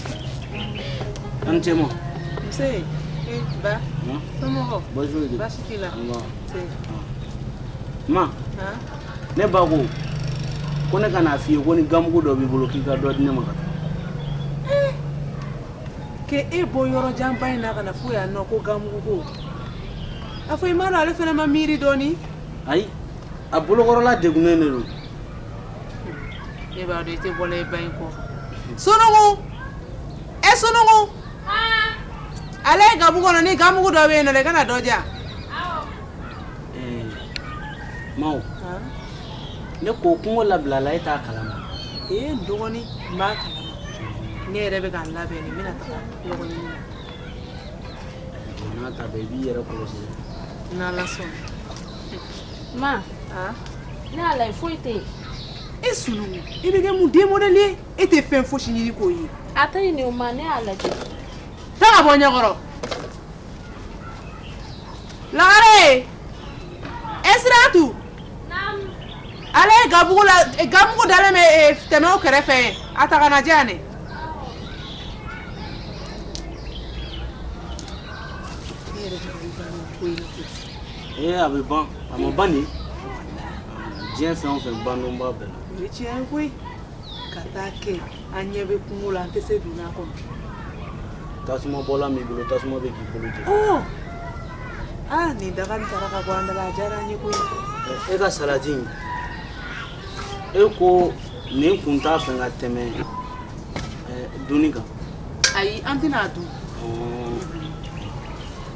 An cɛ ma ma ne ba ko ko ne ka na a f' i ye ko ni ganmugu dɔ b'i bolo k'i ka dɔ di ne ma k' e bɔ yɔrɔ janba in na ka na fo yan ko ganmugu a fɔ i ma don ale fana ma miiri dɔɔnin ayi a bolokɔrɔla dɛgunnen de don e b'a dɔn i tɛ bɔla i ba in kɔ Sunugu e Sunugu a lajɛ gabugu kɔnɔ ni ganmugu dɔ bɛ yen nɔ i ka na dɔ di yan Ma ne ko kungo labilala e t'a kalama ee n dɔgɔnin n b'a kalama ne yɛrɛ bɛ ka n labɛn de n bɛna taga lɔgɔ ɲini na n'a ta bɛɛ i b'i yɛrɛ kɔlɔsi n'Ala sɔnna Ma ne y'a lajɛ foyi tɛ yen e sun i bɛ kɛ mun de modɛli e tɛ fɛn fosi ɲini koyi a tɛ nin o ma ne y'a lajɛ taa bɔ n ɲɛkɔrɔ lagare e sira tu a lajɛ gabugu la gabugu dalen bɛ tɛmɛ kɛrɛfɛ a ta ka n'a di yan ee a bɛ ban a ma ban de diɲɛ fɛn o fɛn ban don b'a bɛɛ la o ye tiɲɛ ye koyi ka taa kɛ an ɲɛ bɛ kungo la an tɛ se donna kɔnɔ tasuma bɔla min bolo tasuma bɛ k'i bolo jeni ɔɔ aa ni daga nin tara ka bɔ an da la a diyara an ye koyi e ka salati in e ko nin kun tɛ fɛn ka tɛmɛ eh, dunni kan ayi an tɛna a dun Ɔɔ,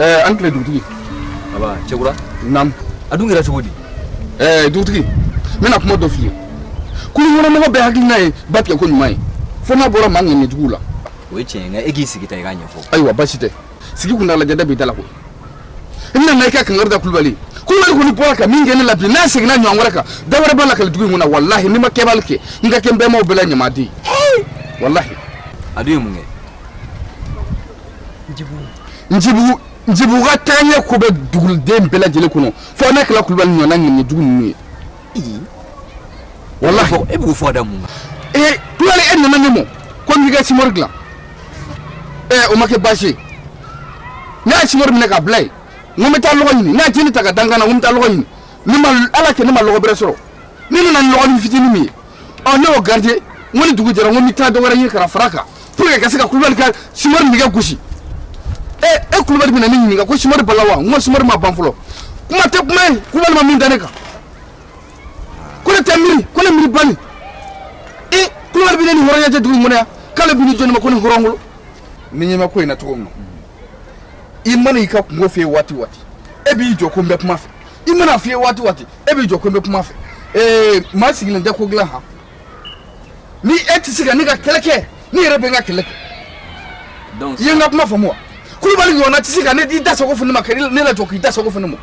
Eh, a ni tile dugutigi aba cɛkura nam a dun kɛra cogo di eh, dugutigi n bɛna kuma dɔ f'i ye kurunkɔnɔmɔgɔ bɛɛ hakilina ye ba tigɛ ko ɲuman ye fo n'a bɔra maa ŋaniyajuguw la o ye tiɲɛ ye nka e k'i sigi tan i k'a ɲɛfɔ ayiwa basi tɛ sigi kun t'a la jada b'i da la koyi i bɛna na i ka kankari da kulubali kulubali kɔni bɔra ka min kɛ ne la bi n'a seginna ɲɔgɔn wɛrɛ kan da wɛrɛ b'a la kali dugu in kɔnɔ walahi ni n ma kɛbali kɛ n ka kɛ n bɛnbaw bɛɛ la ɲamaden walahi a dun ye mun kɛ njibugu njibugu ka taaɲɛ ko bɛ duguden bɛɛ lajɛlen kɔnɔ fo n'a kɛla kulubali ɲɔgɔnna ŋaniyajugu ninnu ye walahi e b'o fɔ ka da mun kan kulubali e nana ne ma ko n b'i ka simori dilan ee o ma kɛ baasi ye ne ye simori minɛ k'a bila yen n ko n bɛ taa lɔgɔ ɲini ne ye jele ta k'a da n kan na n ko n bɛ taa lɔgɔ ɲini ala y'a kɛ ne ma lɔgɔ bɛrɛ sɔrɔ ne nana ni lɔgɔnin fitinin min ye ɔ ne y'o garide n ko ni dugu jɛra n ko n bɛ taa dɔ wɛrɛ ɲini ka na fara a kan pour que ka se ka kulubali ka simori nɛgɛ gosi e e kulubali bɛna ne ɲininka ko simori banna wa n ko simori ma ban fɔlɔ kuma tɛ kuma ye kulubali ma min da ne kan ko ne tɛ miiri ko ne miiribali e kulubali bɛ ne ni hɔrɔnya tɛ dugu in kɔnɔ yan k'ale bɛ ni jɔni ma ko ne hɔrɔnkolo ne ɲɛ bɛ ko in na cogo min na i mana i ka kunko f'i ye waati o waati e b'i jɔ ko n bɛ kuma fɛ i man'a f'i ye waati o waati e b'i jɔ ko n bɛ kuma fɛ ee maa sigilen tɛ ko dilan han ni e tɛ se ka ne ka kɛlɛ kɛ ne yɛrɛ bɛ n ka kɛlɛ kɛ i ye n ka kuma faamu wa kulubali ɲɔgɔnna tɛ se ka n'i da sago fɔ ne ma ka ne lajɔ k'i da sago fɔ ne ma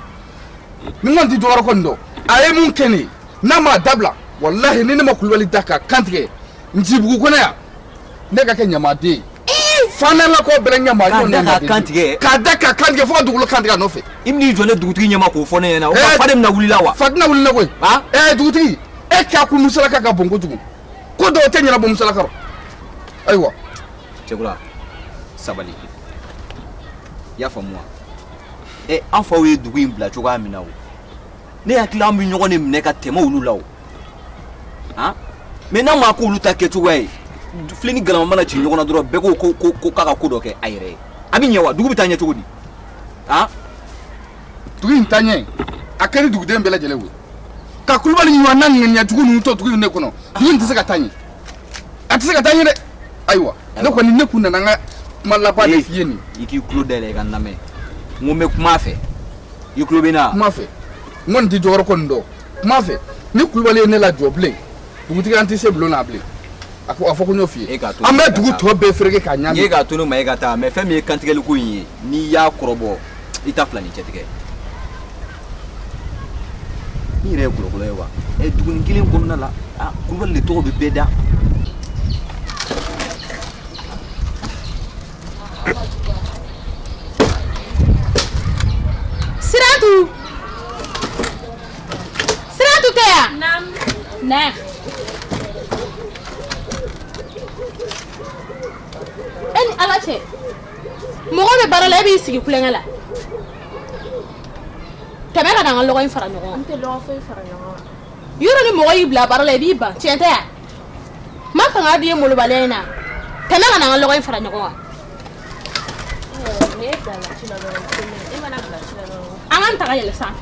nin kɔni t'i jɔyɔrɔ kɔni dɔn a ye mun kɛ ne ye n'a m'a dabila walahi ni ne ma kulubali da k'a kan tigɛ njibugu kɔnɔ yan ne ka kɛ ɲamaden ye fanelakaw bɛɛ ɲamaden k'a da k'a kan tigɛ k'a da k'a kan tigɛ fo ka dugukolo kan tigɛ a nɔfɛ i bɛn'i jɔ ne dugutigi ɲɛma k'o fɔ ne ɲɛna o fa de bɛna wuli i la wa fa tɛna wuli la koyi dugutigi e k'a kun musalaka ka bon kojugu ko dɔw tɛ ɲɛnabɔ musalaka rɔ ayiwa cɛkura sabali i y'a faamu wa ɛ eh, an faw ye dugu in bila cogoya min na o ne hakili la an bɛ ɲɔgɔn de minɛ ka tɛmɛ olu la o han mais n'a ma k'olu ta kɛcogoya ye filen ni galama mana ci ɲɔgɔn na dɔrɔn bɛɛ ko ko k'a ka ko dɔ kɛ a yɛrɛ ye a bɛ ɲɛ wa dugu bɛ taa ɲɛ cogo di han dugu in taɲɛ a kɛra duguden bɛɛ lajɛlen ye ka kulubali ɲɔgɔn na ŋaniya jugu ninnu to dugu in de kɔnɔ dugu in tɛ se ka taa ɲɛ a tɛ se ka taa ɲɛ dɛ ayiwa ne kɔni ne kun nana n ka kuma laban de f'i ye nin i k'i tulo dayɛlɛ i ka n lamɛn n ko n bɛ kuma a fɛ i tulo bɛ n na kuma fɛ n kɔni tɛ jɔyɔrɔ ko nin dɔn kuma fɛ ni kulubali ye ne lajɔ bilen dugutigi an tɛ se bulon na bilen a ko a fɔ ko n y'o f'i ye an bɛ dugu tɔ bɛɛ fereke k'a ɲami e k'a to ne ma e ka taa mais fɛn min ye kantigɛli ko in ye n'i y'a kɔrɔbɔ i ta fila ni cɛ tigɛ i yɛrɛ ye kolokolo ye wa ɛ dugunin kelen kɔnɔna la a kulubali de tɔgɔ bɛ bɛɛ da siratu Siratu Tea. Naam. Naam. E ni Ala cɛ mɔgɔ bɛ baara la e b'i sigi kulonkɛ la tɛmɛ ka na an ka lɔgɔ in fara ɲɔgɔn kan. N tɛ lɔgɔ foyi fara ɲɔgɔn kan. Yɔrɔ ni mɔgɔ y'i bila baara la i b'i ban tiɲɛ tɛ wa? N ma fanga di ye molobaliya in na tɛmɛ ka na an ka lɔgɔ in fara ɲɔgɔn kan. Ɔ, n'e bilala ci la dɔrɔn, n tɛ mɛn. E mana bila ci la dɔrɔn. An k'an ta ka yɛlɛ sanfɛ.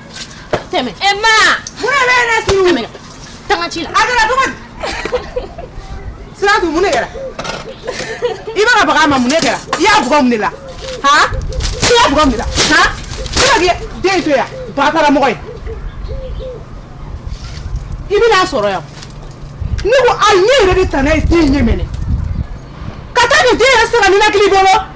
tɛmɛ e ma mun bɛ ne si tɛmɛ tanga ci la a kɛra cogo di siratu mun de kɛra i bɛ ka baga a ma mun de kɛra i y'a bugɔ mun de la han i y'a bugɔ mun de la han i bɛ ka den to yan bataramɔgɔ ye i bɛ n'a sɔrɔ yan ne ko a ɲɛ yɛrɛ de tana ye den ɲɛ minɛ ka taa nin den yɛrɛ sɛgɛn ninakili bolo.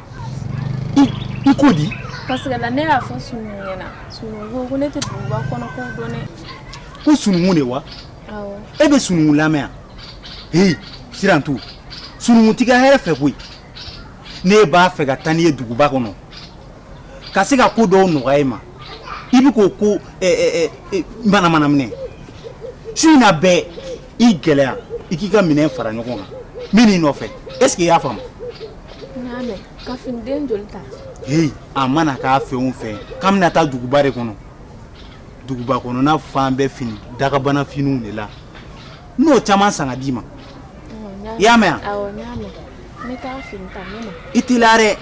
i ko di parce que ne y'a fɔ Sununkun ɲɛna Sununkun ko ne tɛ duguba kɔnɔkow dɔn dɛ ko Sununkun de wa awɔ e bɛ Sununkun lamɛn hei Sirantu Sununkun t'i ka hɛrɛ fɛ koyi ne b'a fɛ ka taa n'i ye duguba kɔnɔ ka se ka ko dɔw nɔgɔya i ma i bɛ k'o ko manamana minɛ su in na bɛɛ i gɛlɛya i k'i ka minɛn fara ɲɔgɔn kan n bɛ n'i nɔfɛ est-ce que i y'a faamu ka den joli ta a mana k'a fɛn o fɛn k'an bɛna taa duguba de kɔnɔ duguba kɔnɔna fan bɛɛ fini dagabana finiw ne na n'o caman san ka d'i ma i y'a mɛn i t'i la dɛ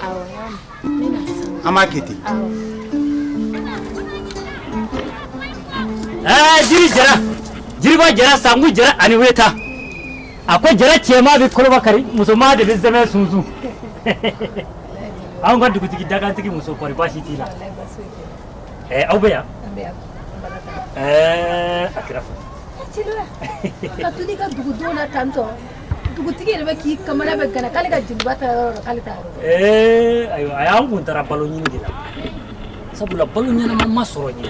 an b'a kɛ ten jiri jara jiriba jara sanku jara ani weta a ko jara cɛman bɛ koloba kari musoman de bɛ zɛmɛ sunsun anw ka dugutigi dagantigi muso kɔri baasi t'i la ɛɛ aw bɛ yan ɛɛ a kɛra fɔ ka to ne ka dugudenw na tantɔ dugutigi yɛrɛ bɛ k'i kamana bɛ gana k'ale ka jeliba taayɔrɔ la k'ale t'a yɔrɔ ɛɛ ayiwa a y'an kun taara balo ɲini de la sabula balo ɲɛnama ma sɔrɔ ɲɛ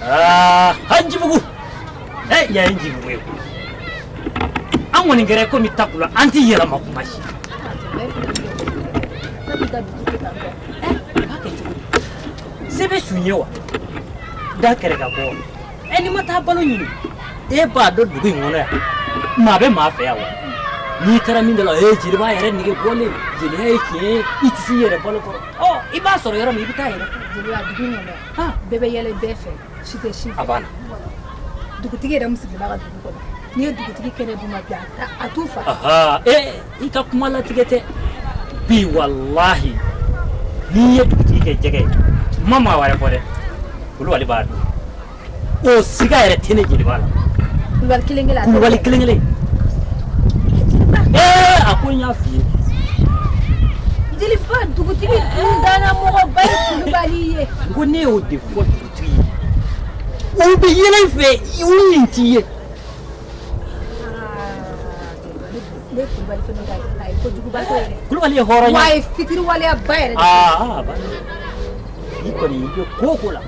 Ah, njibugu eh, yan ye njibugu ye an kɔni kɛra komi takula an tɛ yɛlɛma kuma si sebe sun ye wa da kɛrɛ ka bɔ ɛ eh, n'i ma taa balo ɲini e b'a dɔn dugu in kɔnɔ yan maa bɛ maa fɛ yan wa n'i taara min da la ee jeliba yɛrɛ nege bɔlen jeliya ye tiɲɛ ye i tɛ s'i yɛrɛ balo kɔrɔ ɔ i b'a sɔrɔ yɔrɔ min i bɛ taa yɛrɛ jeliya dugu in kɔnɔ yan bɛɛ bɛ yɛlɛ bɛɛ fɛ si tɛ si fɛ a banna dugutigi yɛrɛ min sigilen b'a ka dugu kɔnɔ n'i ye dugutigi kɛnɛ dun ma bi a t'u fa i ka kuma latigɛ tɛ bi walahi n'i ye dugutigi kɛ jɛgɛ ye n ma maa wɛrɛ fɔ dɛ kulubali b'a dun o siga yɛrɛ tɛ ne jeliba la kulubali kelen kelen kulubali kelen kelen a ko n y'a f'i ye jeliba dugutigi danmɔgɔba kulubali ye ko ne y'o de fɔ dugutigi ye u bɛ yɛlɛ fɛ u min t'i ye kulubali ye hɔrɔn ye fitiriwaleya ba yɛrɛ kɔni ko o ko la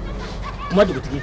kuma dugutigi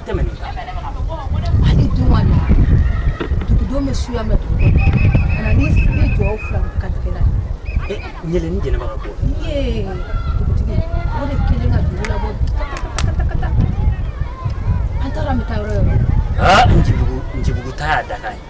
tɛmɛ ni hali don ma na dugudon bɛ suya mɛn dugu kɔnɔ ka na ni sigi jɔ fila ka tigɛ la ɲɛlɛ ni jɛnɛba ka bɔ ye dugutigi o de kelen ka dugu labɔ an taara an bɛ taa yɔrɔ yɔrɔ njibugu njibugu ta y'a dakan ye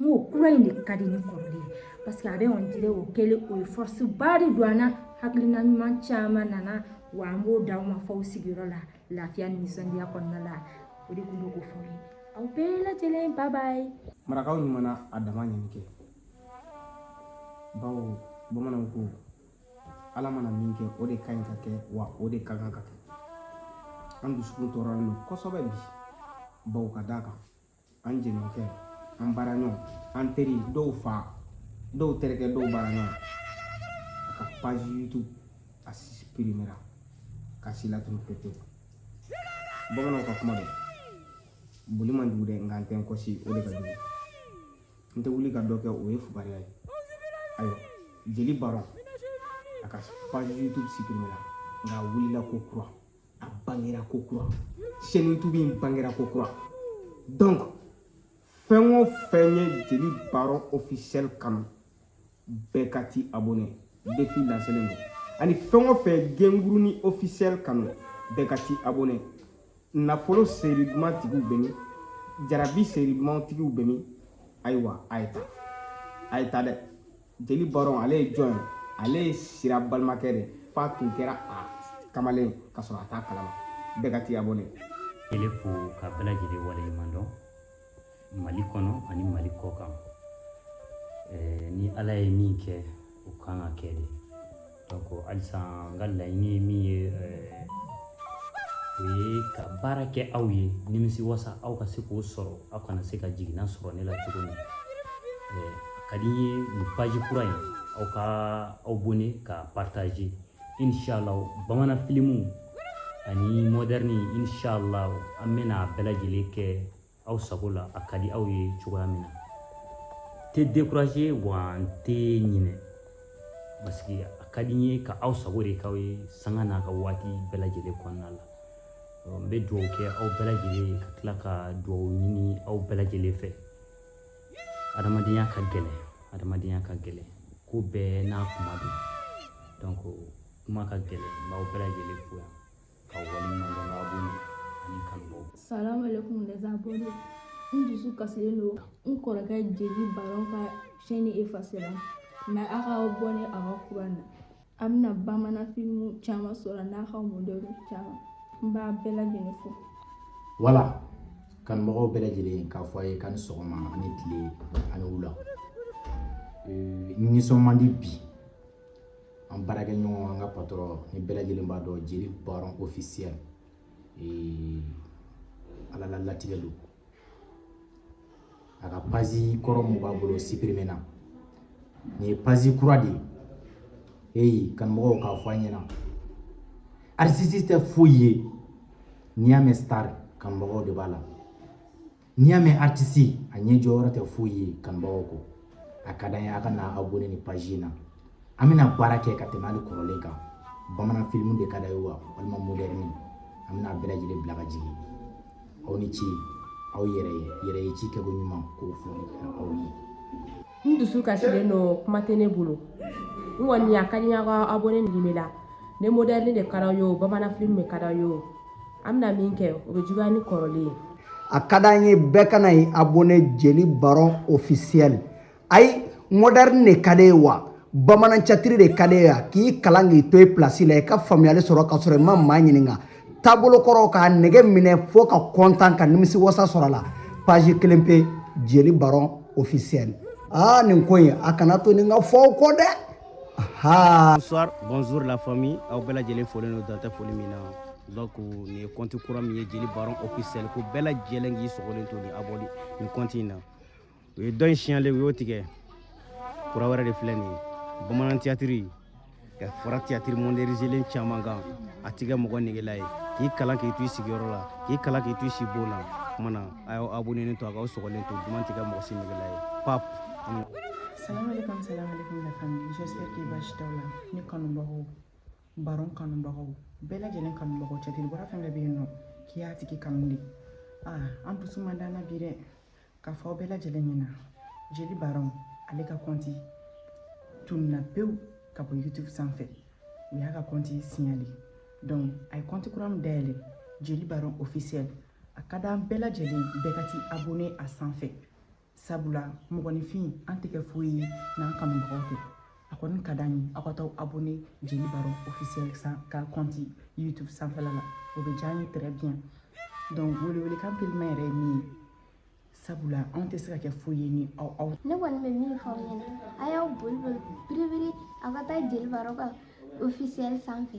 n ko kura in de ka di ni kɔrɔlen ye paseke a bɛ on dirait o kɛlen o ye force ba de don an na hakilina ɲuman caman nana wa an b'o d'aw ma fɔ aw sigiyɔrɔ la lafiya ni nisɔndiya kɔnɔna la o de tun bɛ k'o fɔ ye aw bɛɛ lajɛlen bye bye marakaw ɲuman na a dama ɲini kɛ bawo bamananw ko ala mana min kɛ o de ka ɲi ka kɛ wa o de ka kan ka kɛ an dusukun tɔɔrɔlen don kosɛbɛ bi bawo ka d'a kan an jɛɲɔgɔnkɛ an baaraɲɔgɔn an teri dɔw fa dɔw terikɛ dɔw baaraɲɔgɔn a ka page youtube a suprimera k'a si latunu pepewu bamananw ka kuma don boli man jugu dɛ nka n tɛ n kɔsi o de ka jugu n tɛ wuli ka dɔ kɛ o ye fugariya ye ayiwa jeli baron a ka page youtube suprimera nka a wulila ko kura a bangera ko kura chaîne youtube in bangera ko kura donc fɛn o fɛn ye jeli baron officiel kanu bɛɛ ka t'i abonné défi lancelen don ani fɛn o fɛn genguruni officiel kanu bɛɛ ka t'i abonné nafolo seri duman tigiw bɛ min jarabi seri duman tigiw bɛ min ayiwa a ye taa a ye taa dɛ jeli baron ale ye jɔn ye ale ye sira balimakɛ de f'a tun kɛra a kamalen ka sɔrɔ a t'a kalama bɛɛ ka t'i abonné ele fo ka bɛɛ lajɛlen waleɲuman dɔn mali kɔnɔ ani mali kɔ kan ni ala ye min kɛ o kan ka kɛ de halisa n ka laɲini ye min ye o ye ka baara kɛ aw ye nimisi wasa aw ka se k'o sɔrɔ aw kana se ka jiginna sɔrɔ ne la cogo min a ka di n ye nin paji kura in aw ka aw abone ka partaze inshallah bamanan filimu ani mɔdɛrɛni inshallah an bɛna a bɛɛ lajɛlen kɛ aw sago la a ka di aw ye cogoya min na n tɛ dekuraze wa n tɛ ɲinɛ parce que a ka di n ye ka aw sago de k'aw ye sanga n'a ka waati bɛɛ lajɛlen kɔnɔna la n bɛ dugawu kɛ aw bɛɛ lajɛlen ye ka tila ka dugawu ɲini aw bɛɛ lajɛlen fɛ adamadenya ka gɛlɛn adamadenya ka gɛlɛn ko bɛɛ n'a kuma don donc kuma ka gɛlɛn n b'aw bɛɛ lajɛlen fo yan Salam alaikum les abonnés. N dusu kasilen don n kɔrɔkɛ jeli baron ka sɛni efasera mɛ a ka abone a ka kura na a bɛna bamanan filimu caman sɔrɔ n'a ka mɔdɛrɛni caman n b'a bɛɛ lajɛlen fo voilà kanumɔgɔw bɛɛ lajɛlen k'a fɔ a ye k'a ni sɔgɔma ani tile ani wula nisɔn man di bi an baarakɛ ɲɔgɔn an ka patɔrɔn nin bɛɛ lajɛlen b'a dɔn jeli baron ofisiyɛl ala la latigɛ don a ka pazi kɔrɔ mun b'a bolo sipirimena nin ye pazi kura de ye eyi kanumɔgɔw k'a fɔ an ɲɛna aritisi tɛ foyi ye n'i y'a mɛn star kanumɔgɔw de b'a la n'i y'a mɛn aritisi a ɲɛ jɔyɔrɔ tɛ foyi ye kanubagaw kɔ a ka d'an ye a ka na abonné ni pazi in na an bɛna baara kɛ ka tɛmɛ hali kɔrɔlen kan bamanan filimu de ka d'a ye wa walima modɛrɛni an bɛna bɛɛ lajɛlen bila ka jigin aw ni ce aw yɛrɛ ye yɛrɛ ye ci kɛko ɲuman k'o foli aw ye n dusu kasilen don kuma tɛ ne bolo n kɔni a ka di n ye aw ka abonné nin bɛ la ni moderne de ka d'aw ye o bamanan film de ka d'aw ye o an bɛna min kɛ o bɛ juguya ni kɔrɔlen ye a ka d'an ye bɛɛ ka na ye abonné jeli baron officiel ayi moderne de ka d'i ye wa bamanan catiri de ka d'i ye wa k'i kalan k'i to i place la i ka faamuyali sɔrɔ ka sɔrɔ i ma maa ɲininka taabolo kɔrɔ k'a nege minɛ fo ka kɔntan ka nimisi wasa sɔrɔ a la page kelen pe jeli baron officiel aa nin ko in a kana to nin ka fɔ aw kɔ dɛ bonsoir bonjour la famille aw bɛɛ lajɛlen folen don dan tɛ foli min na donc nin ye kɔnti kura min ye jeli baron officiel ko bɛɛ lajɛlen k'i sɔgɔlen to ni abonné nin kɔnti in na u ye dɔ in signalé u y'o tigɛ kura wɛrɛ de filɛ nin ye bamanan tiyatiri ka fara tiyatiri modɛrinizelen caman kan a tɛ kɛ mɔgɔ negela ye k'i kalan k'i to i sigiyɔrɔ la k'i kalan k'i to i sibon na kuma na a y'aw abonenen to a k'aw sɔgɔlen to duman tɛ kɛ mɔgɔ si negela ye pap Salam alaikum, salam alaikum la famille. J'espère que basi t'aw la. Ne kanubagaw, baron kanubagaw, bɛɛ lajɛlen kanubagaw catiri bɔla fɛn bɛɛ bɛ yen nɔ k'i y'a tigi kanu de. Ah, an dusu man d'an na bi dɛ. k'a fɔ aw bɛɛ lajɛlen ɲɛna jeli baron ale ka kɔnti tununna pewu ka bɔ youtube sanfɛ u y'a ka kɔnti signalé donc a ye kɔnti kura min dayɛlɛ jeli baron officiel a ka d'an bɛɛ lajɛlen bɛɛ ka t'i abonné a sanfɛ sabula mɔgɔninfin an tɛ kɛ foyi ye n'an kanubagaw tɛ a kɔni ka d'an ye aw ka taa abonné jeli baron officiel ka kɔnti youtube sanfɛla la o bɛ diya an ye très bien donc welewelekan pelimɛ yɛrɛ ye min ye sabula anw tɛ se ka kɛ foyi ye ni aw aw ne kɔni bɛ min fɔ aw ɲɛna a y'aw boli boli biribiri aw ka taa jeli baron ka officiel sanfɛ